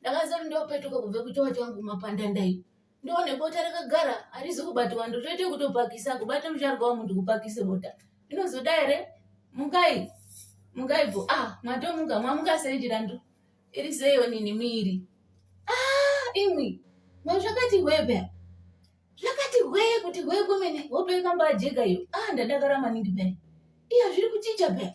ndakazoti ndopetuka kubve kuchova changu mapanda ndai ndoone bota rakagara harizi kubatwa ndotoite kutopakisa kubata mucharwa wamuntu kupakise bota inozoda here mukai mukai bho ah matomuka mwamuka sei chirandu iri seiyo nini miiri ah imwi ma zvakati hwebe zvakati hwee kuti hwee kwemene hope ikambajeka iyo ah ndadakara maningi pene iya zviri kuchicha pene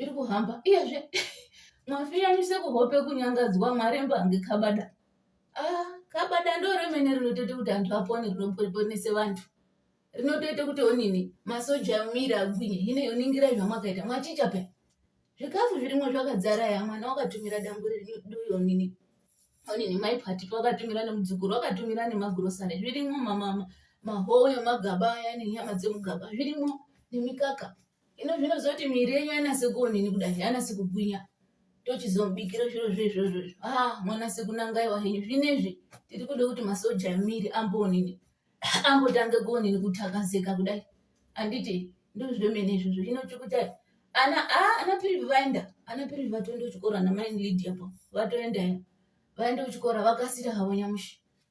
iri kuhamba iyezve mwafiyanise kuhope kunyangadzwa mwaremba hange kabada ah, kabada ndo remene rinotoita kuti antu apone rinoponese vantu rinotoita kuti onini masoja miri agwinye hine yoningira zvamwakaita mwachicha pe zvikafu zvirimo zvakadzara ya mwana wakatumira dambu riduyo nini onini mai pati wakatumira nemudzukuru wakatumira nemagurosari zvirimo mamama mahowe magaba aya nenyama dzemugaba zvirimo nemikaka Ino zvinoziva kuti miri yenyu ainasi kuonini kudai ainasi kugwinya tochizomubikira zviro zve izvozvo izvo ha ah, mwanase kunangaiwa henyu zvinezvi tiri kuda kuti masoja emiri amboonini ambotange kuonini kutakazeka kudai handiti ndozvemene izvozvo hino chikutai ana a ah, ana pirivi vaenda ana pirivi vatoenda kuchikoro ana maini lidi apo vatoenda ya vaenda kuchikoro vakasira havo nyamushi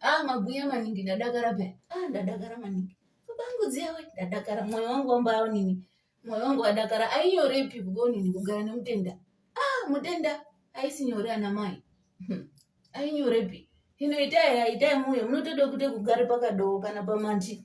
Ah, mabhuya maningi ndadakara paya. Ah, ndadakara maningi. Babangu dziyawe ndadakara moyo wangu wambawo nini. Moyo wangu wadakara ainyorepi kugonini kugara nemutenda. Ah, mutenda aisi nyore ana mai. Hmm. Ainyorepi. Hino itai itai moyo munotoda kuite kugara pakadoo kana pamanti.